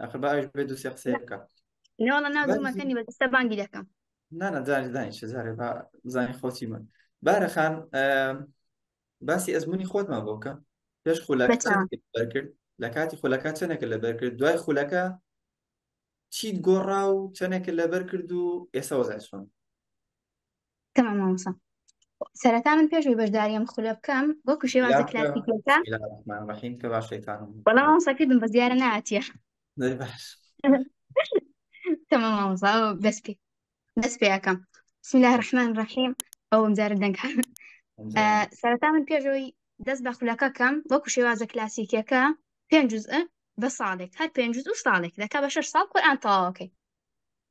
ئەخر باش بێ دوو سێ قسەی بکە نێوەڵە ناو زومەکەنی بە دەستە بانگی دەکەم نانە جاری دانی چ زارێ با زانی خۆتی من بارەخان باسی ئەزمموی خۆتمان بۆکە پێش خولەکە بەرکرد لە کاتی خولەکە چەنێکە لە بەرکرد دوای خولەکە چیت گۆڕا و چەنێکە لەبەر کرد و ئێستا وەزای چۆن تمام مامۆستا سەرەتا من پێش ئەوی بەشدارییەم خولە بکەم وەکو شێوازە لافە کلاسیکیەکە بسم الله الرحمن الرحیم کە باش شەیتانم بەڵام مامۆستا کردم بەس دیارە ناتیە دەی باش تمام مامۆستا ئەو دەست پێ دەست پێ ئەکەم بسم الله الرحمن الرحیم ئەوم جارە دەنگ ئەمجا آه، سەرەتا من پێشەوەی دەست بە خولەکە کەم وەکو شێوازە کلاسیکیەکە پێنج جزء بە ساڵێک هەر پێنج جزء و ساڵێک دەکا بە شەش ساڵ قورئان تەواوەکەی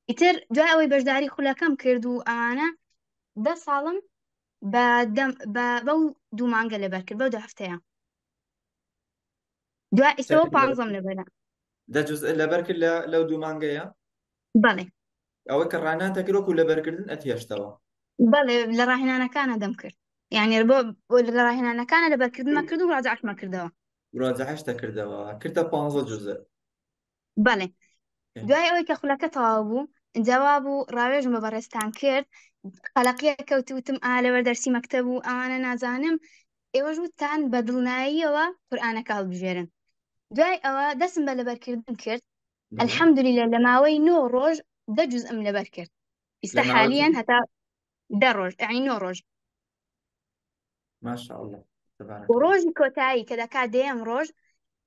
ئیتر دوای ئەوەی بەشداری خولەکەم کرد و ئەوانە دە ساڵم بەو دوو مانگە لەبەر کرد بەو دو هەفتەیە دوای ئیسەوە پازم لەبەر دەجز لەبەر کرد لە لەو دوو مانگەیە بەڵێ ئەوە کە ڕانان دەکرۆک و لەبەرکردن ئەتهێشتەوە بەڵێ لە ڕاهێنانەکانە دەم کرد یعنی بۆ لە ڕاهێنانەکانە لەبەرکردمە کرد و ڕاجعمە کردەوە ڕاجعش دەکردەوە کردە پ جزء بەڵێ دوای ئەوەی کە خولەکە تەواو بوو جواب و ڕاوێژم بە بەڕێستان کرد قەلەقیە کەوتوتم ئا لەوەر دەرسی مەکتەب و ئەوانە نازانم ئێوەش وتان بە دڵناییەوە قورآانەکە هەڵبژێرن دوای ئەوە دەسم بە لەبەرکردن کرد الحەمدلی لە لە ماوەی نۆ ڕۆژ دە جز ئەم لەبەر کرد ئیستا حالیان هەتا دە ڕۆژ ئەین نۆ ڕۆژ ماشاءاللە تبارک و الله ڕۆژی کۆتایی کە دەکا دەیەم ڕۆژ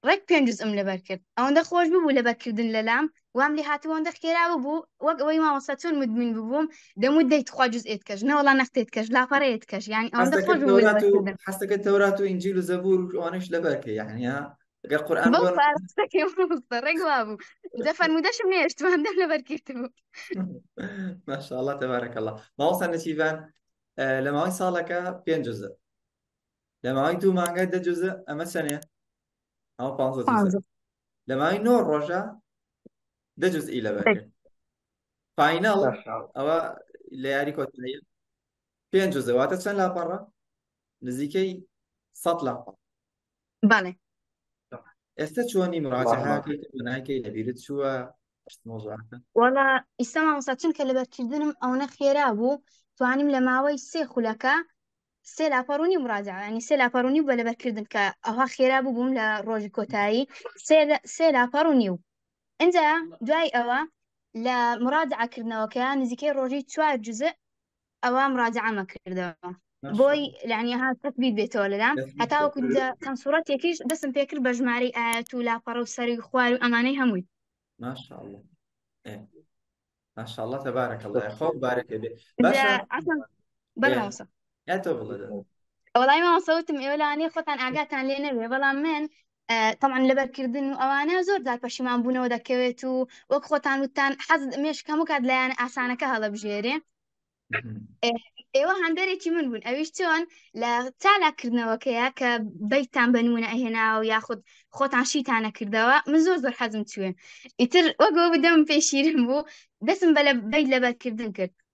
ڕێک پێنج جزئم لەبەر کرد ئەوەندە خۆش ببوو لەبەرکردن لەلام وام لێ هاتبوو ئەوەندە خێرا ببوو وەک ئەوەی مامۆستا چۆن مدمن ببووم دەموت دەی تخوا جزئێت کەش نەوەڵا نەختێت کەش لاپەڕەیەت کەش یعنی ئەوەندە خۆش حەزەکەت ببوو تەورات و لەبەرکردن حەزەکەت تەورات و ئینجیل و زەبور و ئەوانەش لەبەر کە یعنی ها گەر قورئان بەو بۆ پارە قسەکەی مامۆستا ڕێک وا بوو جا فەرموودەشم نێشتمان دەم لەبەر کرد بوو ماشاءاللە تبارک الله مامۆستا نەچیڤان لە ماوەی ساڵەکە پێنج جزء لە ماوەی دوو مانگە دە جزء ئەمە چەنێ ئەمە پانزە جزء لە ماوەی نۆ ڕۆژە دە جزئی لە بەرکرد فاینەڵ ئەوە لە یاری کۆتایی پێنج جزء واتە چەند لاپەڕە نزیکەی سەد لاپەڕ بەڵێ ئێستا چۆنی مراجعەکەی لەبیرت چووە وەڵا ئیستا مامۆستا چونکە لەبەرکردنم ئەوەنە خێرا بوو توانیم لە ماوەی سێ خولەکە سێ لاپەڕونی مراجعانی سێ لاپەڕونی بە لەبەرکردن کە ئەوها خێرا بوو بووم لە ڕۆژی کۆتایی سێ لاپەڕونی و ئەجا دوای ئەوە لە مراجعکردنەوەکە نزیکەی ڕۆژی چوار جزء ئەوە مراجعەمە کردەوە بۆی لەعنی ها تەکبیر بێتەوە لەلام هەتاوەکو چەند سوڕەتێکیش دەسم پێکرد بە ژمارەی ئاەت و لاپەڕە و سەری خوار و ئەمانەی هەمووی ماشاءالله ماشاءالله تبارك الله خۆ بارەکە بێ باشە بەرەوەسە ئەتۆ بڵێ ئەوڵای ماوەسەوتم ئێوە لەوانەیە خۆتان ئاگاتان لێ نەبێ بەڵام من تەمان لەبەرکردن و ئەوانە زۆر جار پەشیمان بوونەوە دەکەوێت و وەک خۆتان وتان حەز مێشک هەموو کات لایەن ئاسانەکە هەڵەبژێرێ ئێوە هەندێکی من بوون ئەویش چۆن لە چالاکردنەوەکەیە کە بیتان بەنمونە ئەهێناوە یاخود خۆتان شیتانە کردەوە من زۆر زۆر حەزم چوێ ئیتر وەگەوە بدەم پێشیرم بوو دەسم بە لە بیت لەبەرکردن کرد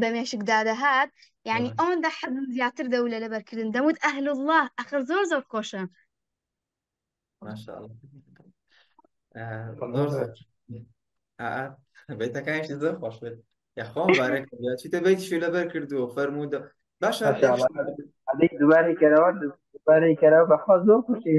بە مێشک دادەهات یعنی بەڵێ. ئەوەندە حەزم زیاتر دەو لە لەبەرکردن دەموت ئەهل الله ئەخر زۆر زۆر خۆشە ماشاءالله آه، زۆر زۆر آه، بەیتەکانیشی زۆر خۆش بێت یاخوا مبارەک بێت چیتە بەیتیشی لەبەر کردووە فەرموودە باشە ماشاءالله. هەدەی دوبارەی کەرەوە دوبارەی کەرەوە بەخوا زۆر خوشی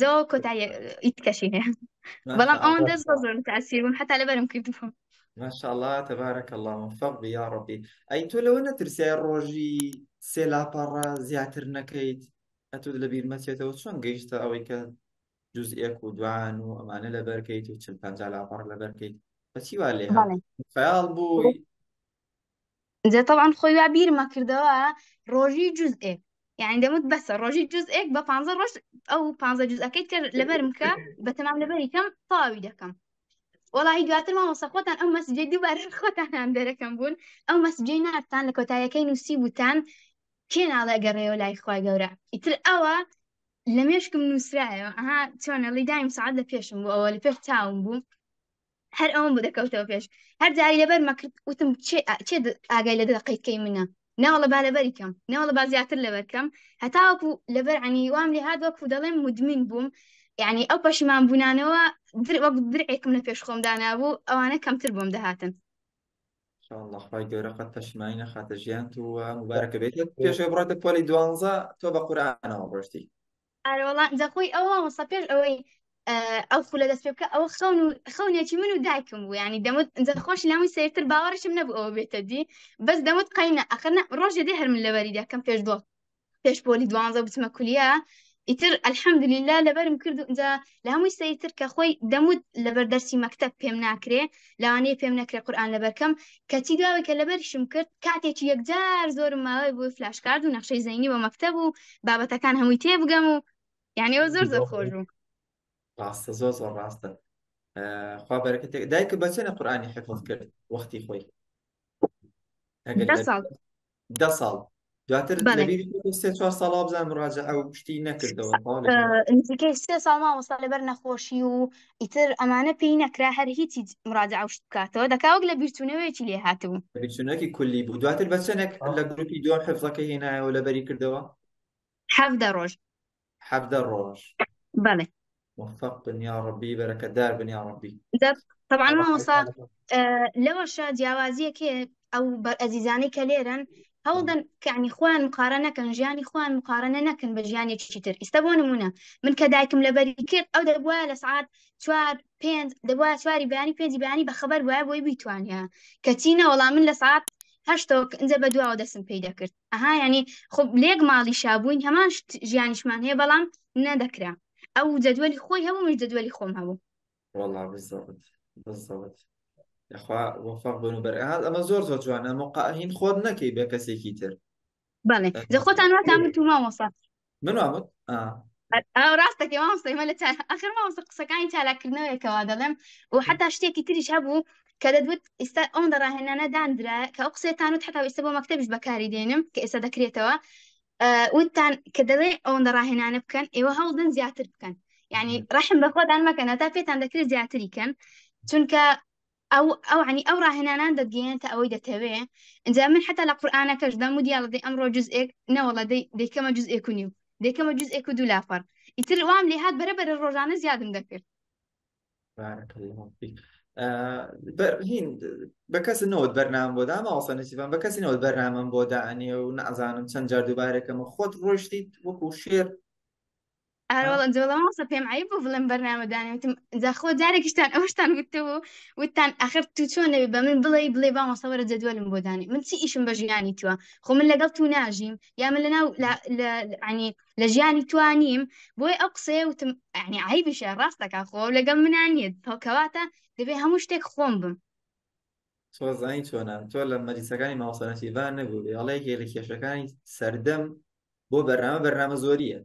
زۆ کۆتایی ئیت کەشی هەیە بەڵام ئەوان دەست بۆ زۆر تاسیر بوون حتا لەبەرم کردبوو ماشاءله تەبارەک الله فەق یا ڕبی ئەی تۆ لەوە نەترسای ڕۆژی سێ لاپەڕە زیاتر نەکەیت ئەتو لە بیرمەچێتەوە چۆن گەیشتە ئەوەی کە جوز ئێک و دوان و ئەمانە لەبەرکەیت و چل پنج لاپەڕ لەبەرکەیت بەچی وا لێ خەیاڵ بووی جا تەبعەن خۆی وا بیرم ئەکردەوە ڕۆژی جوزئێک یانی دەموت بەسە ڕۆژی جوزئێک بە پانزە ڕۆژ ئەو پانزە جوزەکەی تر لەبەرم کە بە تەمام لەبەری کەم تەواوی دەکەم وەڵاهی دواتر مامۆستا خۆتان ئەو مەسجەی دووبار خۆتان هەم دەرەکەم بوون ئەو مەسجەی نارتان لە کۆتایەکەی نووسی بوتان کێ ناڵێ گەڕێەوە لای خوای گەورە ئیتر ئەوە لە مێشکم نووسرایەوە ئەها چۆنە ڵیدایم سعات لە پێشم بوو ئەوە لە پێش چاوم بوو هەر ئەوم بوو دەکەوتەوە پێش هەر جاری لەبەر مەکرد وتم چێ ئاگای لە دەقەی کەی منە ناوەڵە با لەبەری کەم ناوەڵە با زیاتر لەبەرکەم هەتاوەکو لەبەر عنی وام لێ هاات وەکو دەڵێم مدمین بووم یعنی ئەو پەشیمان بوونانەوە در وەک درعێکم لە پێش خۆم دانابوو ئەوانە کەمتر بۆم دەهاتن خی گەورە قەت پەشیمانی نەخاتە ژیان و مبارەکە بێت پێش بڕاتە پۆلی دوانزە تۆ بە قورانەوە ڕۆشتی ئارە وەڵا جا خۆی ئەو مامۆستا پێش ئەوەی اه، ئەو خولە دەست پێ بکە ئەوە خەون و خەونێکی من و دایکم بوو ینی دەمت جا خۆش لەمووی سەیرتر باوەڕشم نەبوو ئەوە بێتە دی بەس دەمت قەینا ئەخرنا ڕۆژێ دێ هەر من لەبەری دەکەم پێش دۆ پێش پۆلی دوانزە بچمە کولیا ئیتر الحمدللە لەبەرم کرد و جا لە هەمووی سەیتر کە خۆی دەموت لەبەر دەرسی مەکتب پێم ناکرێ لەوانەیە پێم نەکرێ قورآان لەبەرکەم کەچی داوای کە لەبەرشم کرد کاتێکی یەکجار زۆرم ماوەی بۆی فلاشکارد و نەخشەی زەینی بە مەکتب و بابەتەکان هەمووی تێ بگەم و یعنی ئەو زۆر زۆر خۆش بوو ڕاستە زۆر زۆر ڕاستە خوا بەرەکەتێک دایکە بەچێنە قورآانی حفظ کرد وەختی خۆی دە ساڵ دواتر بەڵێ. لەبیری خۆتە سێ چوار ساڵ وابزان مراجعە و شتی نەکردەوە تەواو لە بیر. ئە، نزیکەی سێ ساڵ مامۆستا لەبەر نەخۆشی و ئیتر ئەمانە پێی نەکرا هەر هیچی مراجعە و شت بکاتەوە دەکا وەک لە بیرچوونەوەیەکی لێ هاتبوو. بیرچوونەوەکی کولی بوو دواتر بە چەنێک لە گروپی دووەم حفزەکەی هێنایەوە لەبەری کردەوە؟ حەڤدە ڕۆژ حەڤدە ڕۆژ بەڵێ موفق بن یا ڕەبی بەرەکەتدار بن یا ڕەبی دەب طبعا مامۆسا لەوەشە جیاوازیەک ئەو بەر ئەزیزانەی کە لێرن هەوڵدەن کەعنی خوان مقارە نەکەن ژیانی خوان مقارنە نەکەن بە ژیانێکی تر ئیستا بۆ نمونە من کە دایکم لە بەری کرد ئەو دەبووە لە سعات چوار پێنج دەبووە چواری بەیانی پێنجی بەیانی بە خەبەر بووە بۆی بیتوانە کەچینە وەڵام من لە سعات هەشتۆک ئەجە بە دواوە دەسم پێی دەکرد ئەها ینی خۆ لێک ماڵی شابووین هەمان ژیانیشمان هەیە بەڵام نەدەکرا ئەو جەدوەلی خۆی هەبوو من جەدوەلی خۆم هەبوو والله بالضبط بالضبط یخوا وەفاق بن و بەرهاز ئەمە زۆر زۆر جوانە مقاهین خۆت نەکەی بە کەسێکی تر بەڵێ دە خۆتان واتان وتوما وەسا من وابوت ڕاستەکە مامۆستای مە لە ئەخر مامۆستا قسەکانی چالاکردنەوەیەکەوە دەڵێم و حتا شتێکی تریش هەبوو کە دەدوت ئستا ئەوم دە ڕاهێنانە دانرا کە ئەو قسێتان و حتا ئستا بۆ مەکتتەبیش بەکاری دێنم کە ئێستا دەکرێتەوە وتان کە دەڵێ ئەوەن دە ڕاهێنانە بکەن ئێوە هەوڵدن زیاتر بکەن یعنی ڕحم بەخۆدان مەکەن تا پێتان دەکرێت زیاتری کەن چونکە ئەو ئەو عنی ئەو ڕاهێنانان دەتگەیەنێتە ئەوەی دەتەوێ ئەجا من حتا لە قورآانەکەش دەم و دیاڵە دەی ئەمڕۆ جزئێک نەوەڵە دەی دەیکەمە جزئێک و نیو دەکەمە جزئێک و دوو لافەر ئیتر وام لێ هاات بەرە بەرە ڕۆژانە زیادم دەکرد بەرهین بە کەس نەوت بەرنام بۆ دامە ئەوسەنسیفان بە کەسی نەوت بەرنامەم بۆ دانێ و نازانم چەند جار دووبارەکەمە خۆت ڕۆشتیت وەکو شێر ئارە وەڵا جوڵە مامۆستا پێم عیب بوو بڵێم بەرنامە دانێ وتم جا خۆ جارێکیشتان ئەوشتان وتەوە و وتتان ئاخر تو چۆن نەبێ بە من بڵێ بڵێ با مامۆستا وەرە جەدوەلم بۆ دانێ من چی ئیشم بە ژیانی تووە خۆ من لەگەڵ تو ناژیم یا من لەناو لە- لە- یعنی لە ژیانی توا نیم بۆی ئەو قسەیە وتم یعنی عیبیشە ڕاست دەکا خۆ ئەو لەگەڵ منا نییە هەو- کەواتە دەبێ هەموو شتێک خۆم بم تۆ زانی چۆنە تۆ لە مەجلیسەکانی مامۆستا نەسیبان نەبوو بێ هەڵەیەکێ لە کێشەکانی سەردەم بۆ بەرنامە بەرنامە زۆریە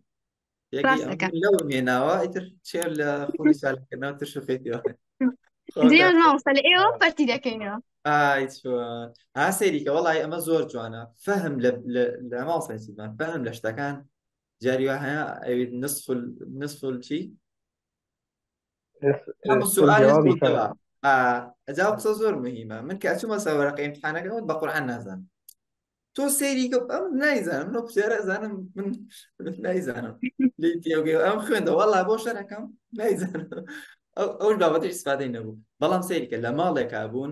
لەو مێناوە ئیتر چێ لە خۆی سالکردنەوە تر شوفێتەوە لە ئێوە پەرتی دەکەینەوە ها سەیریکە وڵی ئەمە زۆر جوانە فەهم لە ماڵسەسیمان فەهم لە شتەکان جاری هەیە ئەوێت نسفل نسفل چی ئەم سوال بووتەوە ئەجا قسە زۆر مهمە من کە ئەچوومە سەوەرەکە امتحانەکە وت بە قورآن نازانم تۆ سەیری کە ئەم نایزانم منە کوێرە زانم من نایزانم لی تێگەی ئەم خوێندە وەڵا بۆ شەرەکەم نایزانم ئەو بابەتی سپادەی نەبوو بەڵام سەیری کە لە ماڵێکا بوون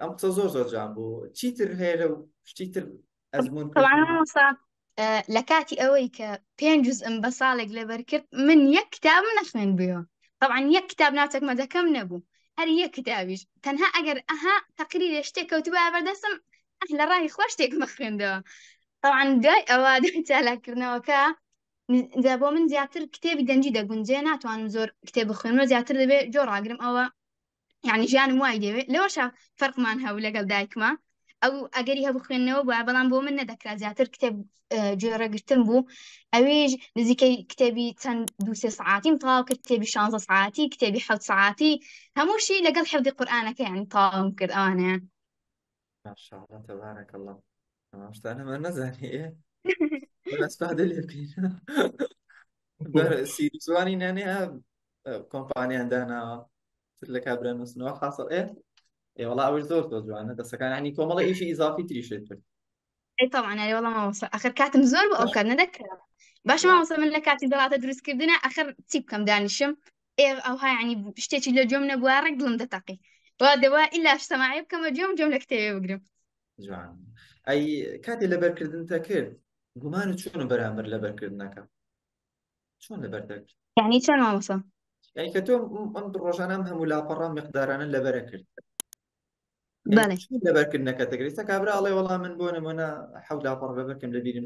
ئەم قسە زۆر زۆر جوان بوو چیتر هەیە لەو شتی تر ئەزمون طبعا مامۆستا ئە، لە کاتی ئەوەی کە پێنج جزئم بە ساڵێک لەبەر کرد من یەک کتابم نەخوێند بووە طبعا یەک کتاب ناچەکمەدەکەم نەبوو هەر یەک کتابیش تەنها ئەگەر ئەها تەقریرێ شتێک کەوتبووە بەردەستم ئەه لە ڕای خۆ شتێک مەخوێندەوە طبعا دوای ئەوە دوای چالاکردنەوەکە ن- جا بۆ من زیاتر کتێبی دەنجی دەگونجێ ناتوانم زۆر کتێب بخوێنمە زیاتر دەبێ جۆ ڕاگرم ئەوە یعنی ژیانم وای دەوێت لەوەشە فەرقمان هەبوو لەگەڵ دایکمە ئەو ئەگەری هەبوو خوێندنەوە بووە بەڵام بۆ من نەدەکرا زیاتر کتێب جۆرەگرتن بوو ئەویش نزیکەی کتێبی چەند دوسێ سعاتیم تاو کرد کتێبی شانزە سعاتی کتێبی حەوت سعاتی هەمووشی لەگەڵ حەودی قورآانەکەیان تاوم کرد ئەوانەیە ماشاءاللە تبارک اللە تمام شتانە من نزانی ئێ بەس پادە لێ بکەین بەر سیریزوانی نانێ کۆمپانیان داناوە تر لە کابرا نووسنەوە حاصل ئێ ئێ وەڵا ئەوش زۆر زۆر جوانە دەسەکان عنی کۆمەڵە ئیشی ئیزافی تریشێت کرد ئەی تەوان ئەرێ وەڵام مامۆستا ئەخر کاتم زۆر بۆ ئەو کات نەدەکرا باشە مامۆستا من لە کاتی دەڵاتە دروستکردنە ئەخر چی بکەم دانیشم ئێ ئەوها ینی شتێکی لە جۆم نەبووە ڕێک دڵم دەتەقی وا دەوا ئیلا سەماعی بکەمە جۆم جۆم لە کتێبێ بگرم جوان ئەی کاتێ لەبەرکردن تەکرد گومان و چۆن و بەرامبەر لەبەرکردنەکە چۆن لەبەر دەکرد یعنی چۆن مامۆستا یعنی کە تۆ ئەم ڕۆژانە ئەم هەموو لاپەڕە مقدارانە لەبەرە کرد لەبەرکردنەکە دەگری تا کابرا ئەڵێ وەڵام من بۆ نمونە حەوت لاپەڕ بەبەرکەم لە بیرم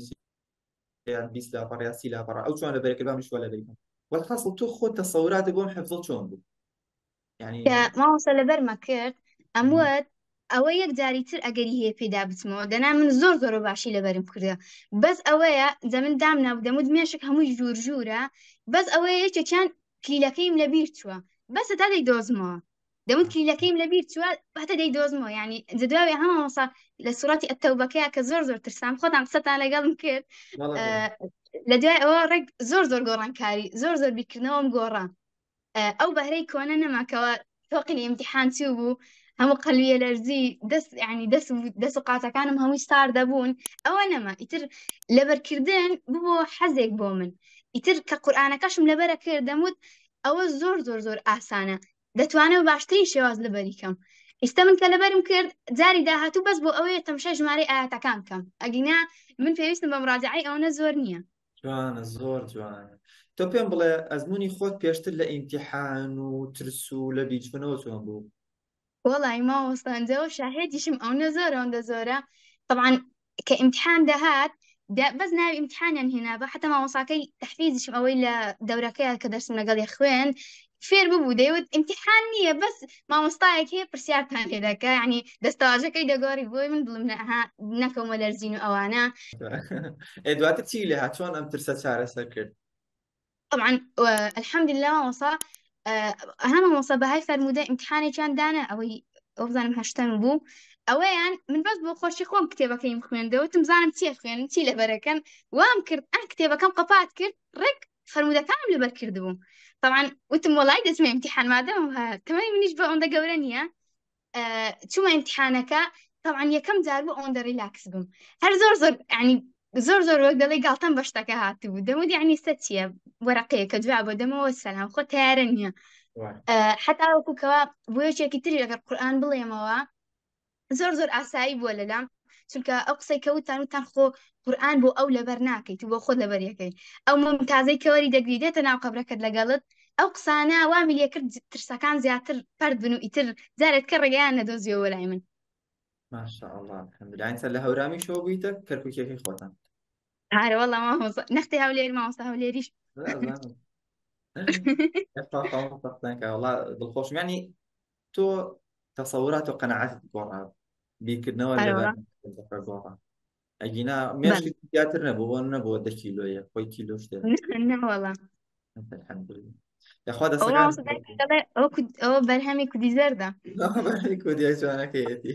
یان بیست لاپەڕ یا سی لاپەڕ ئەو چۆن لە بەرەکە بام شوە لە بیرم وەحاصل تۆ خۆت تەسەورات بۆم حەفزە چۆن بوو یعنی ماوەسە لەبەرمە کرد ئەموت ئەوە یەک جاری تر ئەگەری هەیە پێدا بچمەوە دەنا من زۆر زۆر باشی لەبەرم کردە بەس ئەوەیە دە من دام نابدەمت مێشک هەمووی ژوور ژوورە بەس ئەوەیە یەکێکیان کلیلەکەیم لەبیر چووە بەسە تا دەی دۆزمەوە دەوت کلیلەکەیم لە بیر چوە باتە دەی دۆزمەوە ینی جدواێ هەمەسا لە سوەتی ئەتەوبەکەیە کە زۆر زۆر ترسان خۆتان قسەتان لەگەڵم کرد لە دوای ئەوە ڕێک زۆر زۆر گۆڕانکاری زۆر زۆر بیرکردنەوەم گۆڕا ئەو بەهرەی کۆنە نەماکەوە تۆقلی ئیمتحان چی بوو هەموو قەلویە لەرزی دەست ینی دەست دەست و قاتەکانم هەمووی ستار دەبوون ئەوە نەما ئیتر لەبەرکردن ببوو حەزێک بۆ من ئیتر کە قورآانەکەشم لەبەرە کرد دەموت ئەوە زۆر زۆر زۆر ئاسانە دەتوانم بە باشترین شێواز لەبەری کەم ئیستا من کە لەبەرم کرد جاری داهاتوو بەس بۆ ئەوەیە تەمشای ژمارەی ئاەتەکان کەم ئەگینا من پێویستم بە مراجعی ئەوەنە زۆر نییە جوانە زۆر جوانە تۆ پێم بڵێ ئەزمموی خۆت پێشتر لە ئیمتیحان و ترس و لە بیچبنەوە چۆن بوو وەڵی ماوەستانجەوە شاهێدیشم ئەوە زۆرەوەندە زۆرە طبعاان کە ئیمتحان دەهات دا- بەس ناوی ئیمتحانیان هێنابا حتا مامۆساکەی تحفیزیشم ئەوەی لە دەورەکەیە کە دەرسم لەگەڵی خوێند فێر ببوو دەیوت ئیمتحان نییە بەس مامۆستایەک هەیە پرسیارتان لێ دەکا یعنی دەستەواژەکەی دەگۆڕی بۆی من دڵم نەها نەکەومە لەرزین و ئەوانە ئێ دواتر چی لێ هات چۆن ئەم ترسە چارەسەر کرد طبعا الحمد لله مامۆسا ئەها مامۆسا بەهای فەرموودە ئیمتحانێکیان دانا ئەوەی ئەو بزانم هەشتم بوو ئەوەیان من بەس بۆ خۆشی خۆم کتێبەکەیم خوێندەوەتم زانم چیە خوێنن چی لەبەرەکەن وام کرد ئەن کتێبەکەم قەپات کرد ڕێک فەرموودەکانم لەبەر کرد بووم طبعا وتم وەڵای دەچمە ئیمتحان مادەم تەمەنی منیش بە ئەوەندە گەورە نییە چوومە ئیمتحانەکە تەوان یەکەم جار بوو ئەوەندە ریلاکس بووم هەر زۆر زۆر ینی زۆر زۆر وەک دەڵی گاڵتەم بە شتەکە هاتبوو دەمە دیانیستە چییە وەرەقەیەکە جواب بۆ دەمەوە سەلام خۆ تیارە نییە حتا وەکوکەوە بۆیەکێکی تری لەگەر قورآان بڵێمەوە زۆر زۆر ئاسایی بووە لەلام چونکە ئەو قسەی کەوتان وتان خۆ قورآن بۆ ئەو لەبەر ناکەیت و بۆ خۆت لەبەر یەکەی ئەو ممتازەی کەوەری دەگری دێتە ناو قەبرەکەت لەگەڵت ئەو قسانە وامی لێکرد ترسەکان زیاتر پرد بن و ئیتر جارێت کە ڕێگەیان نەدۆزیەوە لای من ماشاءڵڵاهمیدانسە لە هەورامی شۆ بوویتە کەرکوکیەکەی خۆتان هارەوەڵ مامۆستا نەختی هەولێر مامۆستا هەولێریش دڵخۆشمانی تۆ تەسەورات و قەنەعاتت گۆڕا بیرکردنەوە لەبەر گۆڕا ئەگینا مێشکی زیاتر نەبوو بۆ نەبووە دە کیلۆیە خۆی کیلۆ شتێ نەوەڵە یاخوا دەسەکان ئەوە بەرهەمی کودی زەردە کودی جوانەکەیەتی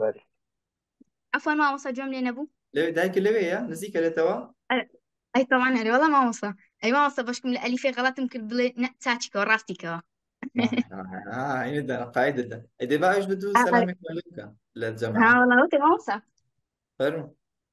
بەری عفوا مامۆستا جۆم لێ نەبوو لەوێ دایکە لەوێیە نزیکە لێتەوە ئەی تەوان هەرێ وەڵا مامۆستا ئەی مامۆستا بەشکم لە ئەلیفێ غەڵەتم کرد بڵێ نە چاچیکەوە ڕاستیکەوە قاعدەدا ئەی دەبا ئەوش بدوو سەلامێک بکە لە جەماعە ها وەڵا وەتێ مامۆستا فەرموو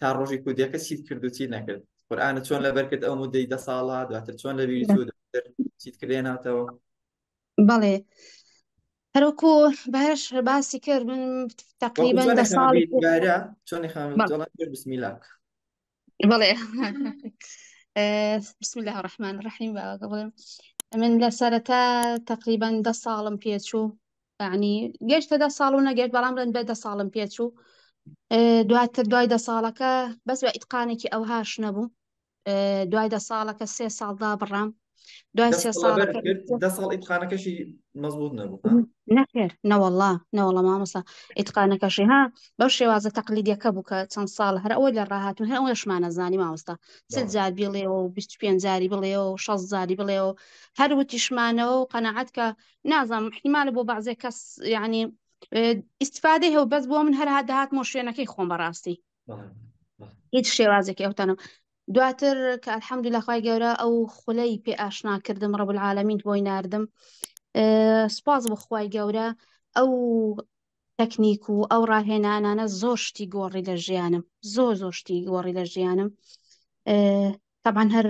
تا ڕۆژی کودەکە چیت کرد و چی نەکرد قورآانە چۆن لەبەر کرد ئەو مدەی دە ساڵە دواتر چۆن لە ویری چیت کردێ ناتەوە بەڵێ هەرۆکو باش باسی کرد من تقریبا دە ساڵ چۆن بسمیلا بەڵێ بسم الله الرحمن الرحیم باوەکە بڵێم من لە سەرەتا تقریبا دە ساڵم پێچوو یانی گەشتە دە ساڵ و نەگەشت بەڵام ڕێن بە دە ساڵم پێچوو دواتر دوای دە ساڵەکە بەس بە ئیتقانێکی ئەوهاش نەبوو دوای دە ساڵەکە سێ ساڵدا بڕام دوای سێ ساڵ دە ساڵ ئیتقانەکەشی مەزبوط نەبوو نەخێر نەوەڵا نەوەڵە مامۆسا ئیتقانەکەشی ها بەو شێوازە تەقلیدیەکە بوو کە چەند ساڵ هەر ئەوەی لە ڕاهاتون هەر ئەوەشمانە زانی ماوەستا سل جار بڵێەوە و بیست پێنجاری بڵێەوە و شەست زاری بڵێەوە هەر وتیشمانەوە و قەنەعات کە نازانم احتیمالە بۆ بەعزێک کەس یعنی ئیسفادەی هەو بەس بۆ من هەرها داهاتمۆ شوێنەکەی خۆم بەڕاستی هیچ شێوازێکی ئەوتانم دواتر کە الحەمدو لەخوای گەورە ئەو خولەی پێ ئاشنا کردم ڕەب العالمین بۆی نردم سپاس بخوای گەورە ئەو تەکنیک و ئەو ڕاهێنانانە زۆر شتی گۆڕی لە ژیانم زۆر زۆر شتی گۆڕی لە ژیانم تەبعەن هەر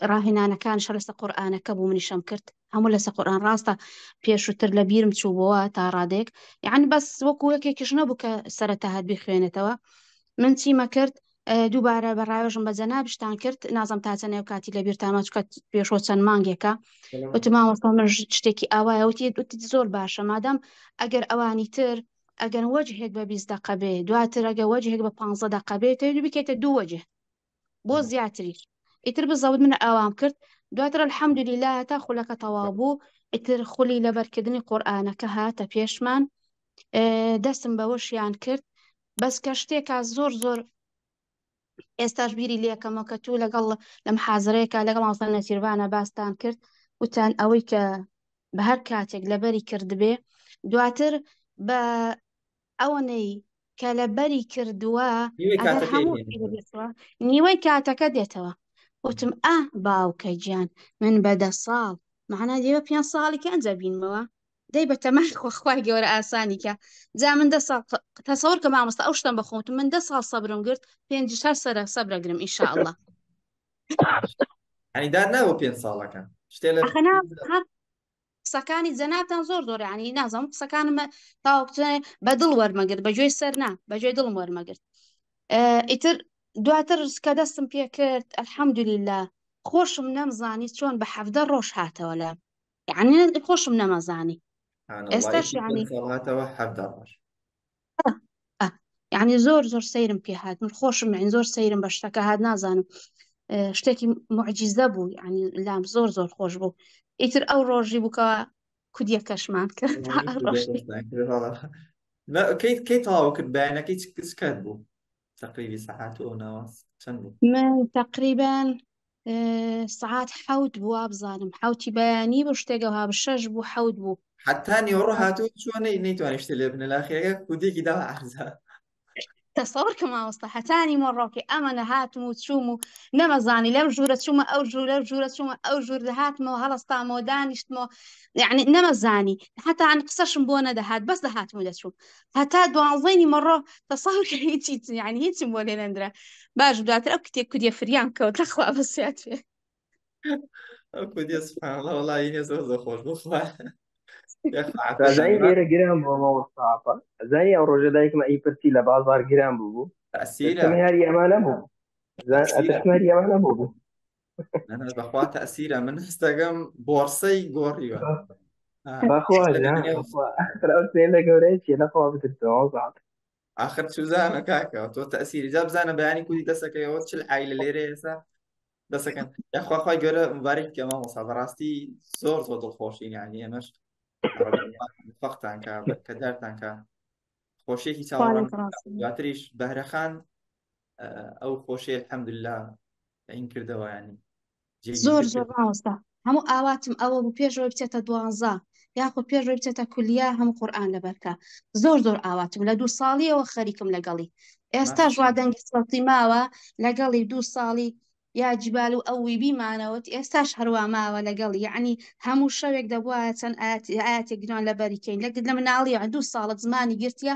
ڕاهێنانەکان شە لەسە قورآانەکە بوو منیشم کرد هەموو لەسە قورآان ڕاستە پێشووتر لە بیرم چوو بووە تا ڕادێک یعنی بەس وەکو یەکێکیش نەبوو کە سەرەتا هەر بخوێنێتەوە من چیمە کرد دووبارە بە ڕایۆژم بە جەنابشتان کرد نازم تا چەنێو کاتی لە بیر تاماچکە پێشۆ چەند مانگێکە وتماوەستا من شتێکی ئاوایە وتی زۆر باشە مادەم ئەگەر ئەوانی تر ئەگەر وەجهێک بە 20 دقەبێ دواتر ئەگە وەجهێک بە 15 دقەبێت بکێتە دوو وەجه بۆ زیاتریش ئیتر بزەوت منە ئاوام کرد دواتر الحەمدلیلا هەتا خولەکە تەواو بوو ئیتر خولی لەبەرکردنی قورآانەکە هاتە پێشمان دەستم بەوەشیان کرد بەس کە شتێکا زۆر زۆر ئێستاش بیری لەکەمە کە تو لەگەڵ لەم حازرەیەکە لەگەڵ ماوسان نەسیربانە باستان کرد وتان ئەوەی کە بە هەر کاتێک لەبەری کردبێ دواتر بە ئەوەنەی کە لە بەری کردووە نیوەی ئەگەر کاتەکەی هەموو دێنێتەوە. شتێک بێتەوە، نیوەی کاتەکە دێتەوە وتم ئا باوکە گیان من بە دە ساڵ مەعنا لێرە پێنج ساڵی کە ئەنجا بینمەوە دەی بە تەمای خۆ خوای گەورە ئاسانی کە جا من دە ساڵ ق- تەسەوەر کە مامۆستا ئەو شتم بەخۆم وتم من دە ساڵ سەبرم گرت پێنجیش هەر سەرە سەبرە گرم ئینشاءاللە یعنی دار نابوو پێنج ساڵەکە شتێ لە ئەخەنا هەق قسەکانی جەنابتان زۆر زۆر عنی نازم قسەکانمە تاوەکچێ بە دڵ وەرمەگرت بە گوێی سەرنا بە گوێ دڵم وەرمەگرت ئیتر دواتر کە دەستم پێ کرد ئەلحەمدولیلا خۆشم نەمزانی چۆن بە حەفدە ڕۆژ هاتەوە لە یعنی خۆشم نەمەزانی ئێستاش یعنی هاتەوە حەفدە ڕۆژ یعنی زۆر زۆر سەیرم پێ هاات من خۆشم من زۆر سەیرم بە شتەکە هاات نازانم شتێکی معجیزە بوو یعنی لام زۆر زۆر خۆش بوو ئیتر ئەو ڕۆژی بووکەوە کودیە کەشمان کرد کەیت کەی تاوا کرد بەیانەکەی چکات بوو تقریبی سەعات و ئەو ناوەس چەند بوو من تقریبان سعات حەوت بوو وابزانم حوتی بەیانی بۆ شتێکەوە بە شەش بوو حەوت بوو حتا نیوەڕۆ هاتوو چوە نەیتوانانی شتە لێ بنە لاخیەکە کودێکی دا عزا تەسەور کە ماوەستا هەتانی مۆڕۆکی ئەمە نەهاتم و چوم و نەمەزانی لەم ژوورە چوومە ئەو ژوورە ژوورە چوومە ئەو ژوور دەهاتمەوە هەڵستامەوە دانیشتمەوە یعنی نەمەزانی هەتان قسەشم بۆ نەدەهات بەس دەهاتم و دەچوو هەتا دوانزەی نیمەڕۆ تەسەور کە هیچی یعنی هیچم بۆ لێ نەندرا باش دواتر ئەو کتێ کوریە فریام کەوت لەخوا بەسیات پێ ئەو کودیە سبحانەڵڵا وەڵایی هێز زۆر زۆر خۆش بوو خوایە. یا خوایە. زانی لێرە گران بۆ مەوەستاپە زانی ئەو ڕۆژە دایکمە ئی پرسی لە بازار گران بوو تەسیرە دەستم هەر یەمانە بوو زان ئەتەسمەر یەمانە بوو بەخوا تەسیرە من هەستەکەم بۆرسەی گۆڕیوە لە گەورەیە لەخوا بترسەوە آخر سوزانە کاکە تۆ تەسیری جا بزانە بەیانی کوی دەسەکەیەوە چل ئای لە لێرە ئێسا دەسەکەن یاخواخوای گەورە مبارک کە مامۆسا بەڕاستی زۆر زۆر دڵخۆشین یانی ئێمەش فەقتانکە کە دارتانکە خۆشیێکی چاوەڕان دواتریش بەهرەخان ئەو خۆشی الحمدلله این کردەوە ینی زۆر زۆر مامۆستا هەموو ئاواتم ئەوە بوو پێشەوەی بچێتە دوانزە یاخود پێشەوەی بچێتە کولیا هەموو قورآن لەبەرکە زۆر زۆر ئاواتم لە دوو ساڵیەوە خەریکم لەگەڵی ئێستا ژوا دەنگی سڵتی ماوە لەگەڵی دوو ساڵی یا جیبال و ئەوی بیمانەوەت ئێستاش هەروە ماوە لەگەڵ یعنی هەموو شەوێک دەبواە چەند ئاەتی گران لە بەریکەین لەگرد لە مناڵی دوو ساڵت زمانی گرتە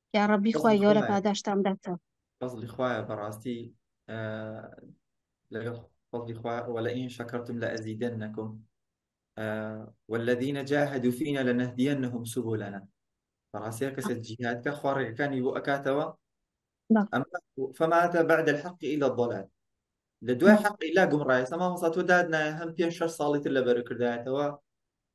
یاڕەبی خوای فەزلی گەورە خوایە پاداشتان بداتەوە فەزلی خوایە بەڕاستی ئە، لەگەڵ فەزلی خوایە وەلئین شەکەرتم لەئەزیدەننەکم ئە، والذین جاهدوا فینا لنهدینهم سبلنا بەڕاستی هەر کەسە جیهاد کا خوا ڕێگەکانی بۆ ئەکاتەوە بەڵ ئەما فما بعد الحق الا الضلال لە دوای بەڵ حەق ئیلا گومڕایە سە مامۆستا تۆ دادنایە هەم پێنج شەش ساڵی تر لەبەر کردایەتەوە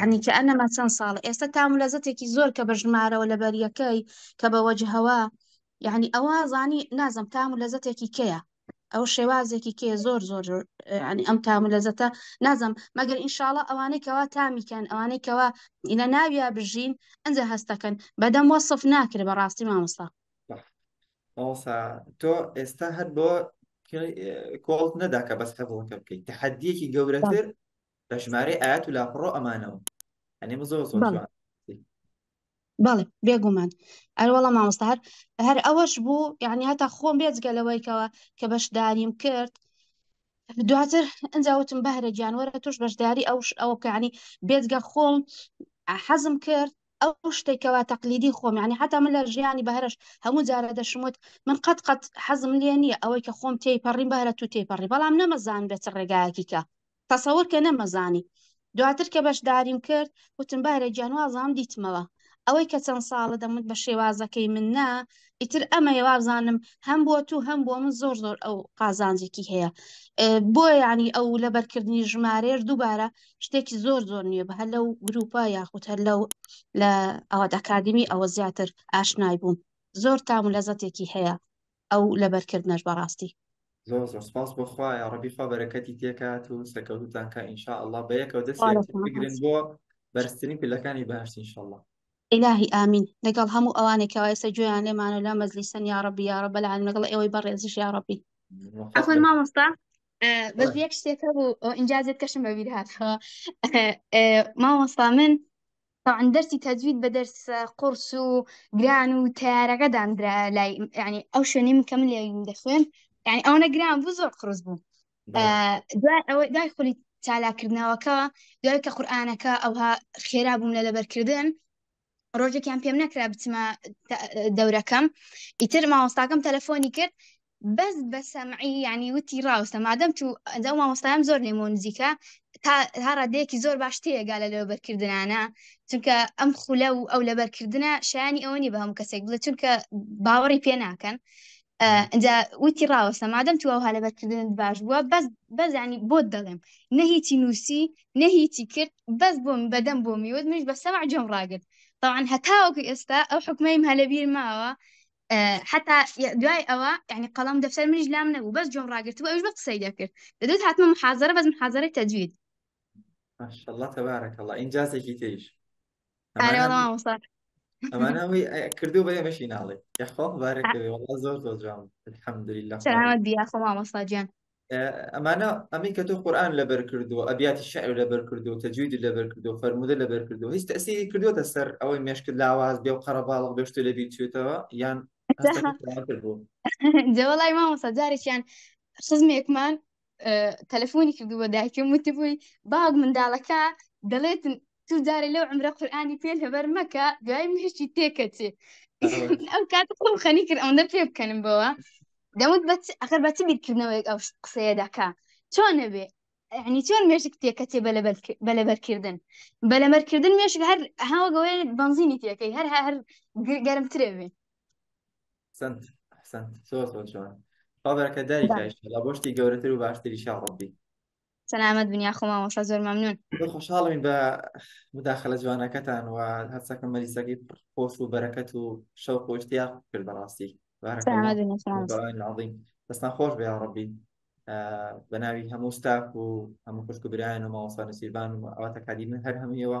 عنی کە ئەنەما چەند ساڵ ئێستا تام و لەزەتێکی زۆر کە بە ژمارەوە لە بەریەکەی کە بە وەجهەوە یعنی ئەوە زانی نازم تام و لەزەتێکی کەیە ئەو شێوازێکی کێ زۆر زۆر ینی ئەم تام و لەزەتە نازم مەگەر ئینشاڵە ئەوانەی کەوا تامیکەن ئەوانەی کەوا لە ناویا بژین ئەجا هەستەکەن بەدەم وەصف ناکرێ بە ڕاستی مامۆستا مامۆستا تۆ ئێستا هەر بۆ کۆڵت نەدا کە بەس حەبڵەکە بکەیت تحدیەکی گەورەتر بە ژمارەی ئایەت و لاپەڕەو ئەمانەوە ئەنێمە زۆر زۆر بەڵێ. جوان بەڵێ بێگومان ئەروەڵە مامۆستا هەر هەر ئەوەش بوو یعنی هەتا خۆم بێجگە لەوەیکەوە کە بەشداریم کرد دواتر ئەجا وتم بەهرە گیان وەرە توش بەشداری ئەو ش- ئەو کەعنی بێجگە خۆم حەزم کرد ئەو شتێکەوە تەقلیدی خۆم یعنی حتا من لە ژیانی بەهرەش هەموو جارە دەشموت من قەت قەت حەزم لێ نییە ئەوەی کە خۆم تێی پەڕیم بەهرە تو تێی پەڕی بەڵام نەمەزان بێت ڕێگایەکی کە تەسەور کە نەمەزانی دواتر کە بەشداریم کرد وتم بارە گیان وابزانم دیتمەوە ئەوەی کە چەند ساڵە دەموت بە شێوازەکەی من نا ئیتر ئەمەیە وابزانم هەم بۆ تو هەم بۆ من زۆر زۆر ئەو قازانجێکی هەیە بۆ ینی ئەو لەبەرکردنی ژمارەیەش دووبارە شتێکی زۆر زۆر نییە بە هەر لەو گروپە یاخود هەر لەو لە ئەوەت ئەکادمی ئەوە زیاتر ئاشنای بووم زۆر تام و لەزەتێکی هەیە ئەو لەبەر کردنەش بەڕاستی. زۆر زۆر سپاس بۆ خوا یاڕەبی خوا بەرەکەتی تێکات و سەکەوتوتان کا ئینشاء اللە بە یەکەوە دەست بگرن بۆ بەرزترین پلەکانی بەهشت ان شاء اللە. ئیلاهی ئامین لەگەڵ هەموو ئەوانەی کەوا ئێستا گوێیان لێمانە و لەم مەجلیسەن یاڕەبی یاڕەب العالمین لەگەڵ ئێوەی بەڕێزیش یاڕەبی. عەفوەن مامۆستا بەس یەک شتێک هەبوو ئینجا زێدکەشم بەبیر هاتەوە مامۆستا من تەبعەن دەرسی تەجوید بە دەرسە قوڕس و گران و تەیارەکە دامدرا لای یانی ئەو شوێنەی من کە من لێ دەخوێن یانی ئەوەنە گران بوو زۆر قڕس بوو دوای ئەوەی دوای خولی چالاکردنەوەکە دوای کە قورآانەکە ئەوها خێرا بووم لە لەبەرکردن ڕۆژێکیان پێم نەکرا بچمە دەورەکەم ئیتر ماوەستاکەم تەلەفۆنی کرد بەس بە سەمعی یانی وتی ڕاوستە مادەم تو ئەو مامۆستایان زۆر لێمەوە نزیکە تا تا ڕادەیەکی زۆر باش تێگا لە لەبەرکردنانە چونکە ئەم خولە و ئەو لەبەرکردنە شایانی ئەوە نیە بە هەموو کەسێک بڵێ چونکە باوەڕی پێ ناکەن ئەجا وتی ڕاوەستە مادەم تو ئەوها لەبەرکردنت باش بووە بەس بەزانی بۆت دەڵێم نە هیچی نووسی نە هیچی کرد بەس بۆم بەدەم بۆ میوت منش بە سەمع جۆم ڕاگرت طبعا هەتاوەکو ئێستا ئەو حکومەی هەلەبیر ماوە حتا دوای ئەوە ینی قەڵم دەفتەر منیش لام نەبوو بەس جۆم ڕاگرتبوو ئەوش بە قسەی دەکرد دەدوت هاتمە محازرە بەس محازرەی تەجوید ماشاءالله تبارك الله ئینجازێکی تریش ئەمانە ئەوەی کردو بە ئێمەشی ناڵێ یاخوا بارەکەوێ وڵا زۆر زۆر جوان الحمدلله سلامت بیا خۆ مامۆستا گیان ئەمانە ئەمەی کە تۆ قورآان لەبەر کردو ئەبیاتی شعر لەبەر کردو تەجوید لەبەر کردو فەرمودە لەبەر کردو هیچ تەسیری کردوتە سەر ئەوەی مێشکت لاواز بێ و قەرەباڵغ بێشت لە بیچێتەوە یان جەوەڵای مامۆسا جارێکیان خزمێکمان تەلەفۆنی کردو بە دایکم وتبووی باوک منداڵەکە دەڵێت تو جارێ لەو عمرە قورآانی پێ هەبەر مەکە دوای مهشتی تێکەچێ ئەم کات خۆم خەنی کرد ئەوەندە پێ بکەنم بەوە دەمت بە ئەخر بە چ بیرکردنەوەیەک ئەو قسەیە دەکا چۆن نەبێ ینی چۆن مێشک تێکەچێ بەلەبەرکردن بەلەمەرکردن مێشک هەر هاوەگەوەی بنزینی تێەکەی هەر هەر گەرمترێ بێ سنت سنت سۆ سۆ چۆن بابەکە داری کایش لە بۆشتی گەورەتر و باشتری شاڕبی سەلامەت بن یاخۆ مامۆستا زۆر مەمنون زۆر خۆشحاڵین بە مداخلە جوانەکەتان و هەرچەکە مەریسەکەی خۆش و بەرەکەت و شەو خۆشتیا کرد بەڕاستی بارەکە سەلامەت بن یاخۆ مامۆستا عظیم دەستان خۆش بێ یا ڕەبی بە ناوی هەموو ستاف و هەموو خوشک و برایان و مامۆستا نسیبان و ئەواتە کادی من هەر هەموویەوە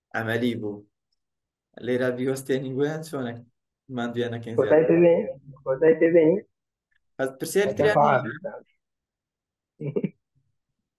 ئەمەلی بوو لێرا بیوەستێنی بۆیان چۆنە مادوێ نەکەین پرسیار